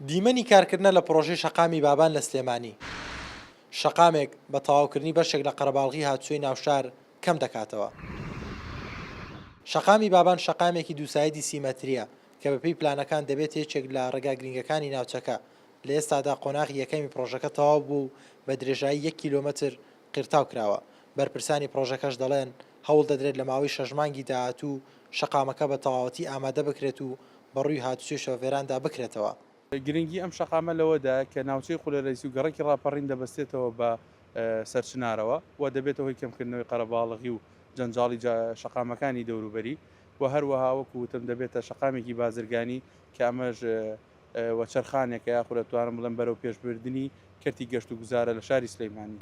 دیمەنی کارکردنە لە پڕۆژەی شەقامی بابان لە سلێمانی، شەقامێک بە تەواوکردنی بەشێک لە قەرەباڵغی هاتوچۆی ناوشار کەم دەکاتەوە. شەقامی بابان شەقامێکی دووسایدی سی مەترییە کە بەپێی پلانەکان دەبێت یەکێک لە ڕێگا گرنگەکانی ناوچەکە، لە ئێستادا قۆناغی یەکەمی پڕۆژەکە تەواو بووە و بە درێژایی یەک کیلۆمەتر قیرتاو کراوە، بەرپرسانی پڕۆژەکەش دەڵێن، هەوڵ دەدرێت لە ماوەی شەش مانگی داهاتوو شەقامەکە بە تەواوەتی ئامادە بکرێت و بەڕووی هاتوچۆی شۆفێراندا بکرێتەوە. گرنگی ئەم شەقامە لەوەدایە کە ناوچەی قولەرەیس و گەڕەکی ڕاپەڕین دەبەستێتەوە بە سەرچنارەوە و دەبێتە هۆی کەمکردنەوەی قەرەباڵغی و جەنجاڵی شەقامەکانی دەوروبەری و هەروەها وەکو وتم دەبێتە شەقامێکی بازرگانی کە ئەمەش وەچەرخانێکە یاخود ئەتوانم بڵێم بەرەو پێشبردنی کەرتی گەشتوگوزارە لە شاری سلێمانی.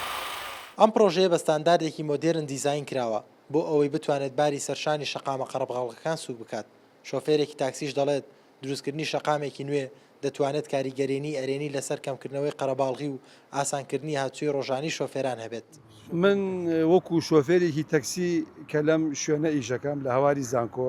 ئەم پڕۆژەیە بە ستانداردێکی مۆدێرن دیزاین کراوە بۆ ئەوەی بتوانێت باری سەرشانی شەقامە قەڕەبغەڵغەکان سووک بکات، شۆفێرێکی تاکسیش دەڵێت، دروستکردنی شەقامێکی نوێ دەتوانێت کاریگەرێنی ئەرێنی لەسەر کەمکردنەوەی قەرەباڵغی و ئاسانکردنی هاتوچۆی ڕۆژانەی شۆفێران هەبێت. من وەکو شۆفێرێکی تەکسی کە لەم شوێنە ئیش دەکەم لە هەواری زانکۆ،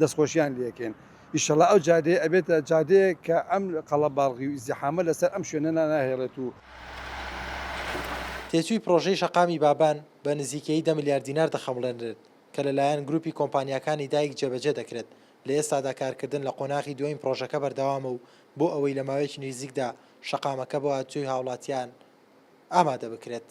دەستخۆشیان لێکەین ئیشەڵا ئەو جادەیە ئەبێتە جادەیەک کە ئەم قەڵەباڵغی و ئیزدیحامە لەسەر ئەم شوێنەنا ناهێڵێت و. تێچووی پڕۆژەی شەقامی بابان بە نزیکەیی دە ملیار دینار دەخەمڵێنرێت کە لەلایەن گرووپی کۆمپانیاکانی دایک جێبەجێ دەکرێت، لە ئێستادا کارکردن لە قۆناغی دووەمی پڕۆژەکە بەردەوامە و بۆ ئەوەی لە ماوەیەکی نزیکدا شەقامەکە بۆ هاتوچۆی هاوڵاتیان ئامادە بکرێت.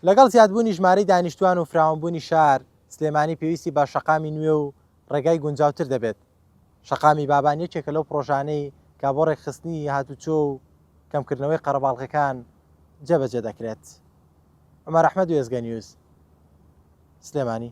لەگەڵ زیادبوونی ژمارەی دانیشتووان و فراوانبوونی شار، سلێمانی پێویستی بە شەقامی نوێ و ڕێگای گونجاوتر دەبێت، شەقامی بابان یەکێکە لەو پڕۆژانەی کە بۆ ڕێکخستنی هاتووچۆ و کەمکردنەوەی قەرەباڵغیەکان جێبەجێ دەکرێت. عومەر ئەحمەد، وێستگە نیوز، سلێمانی.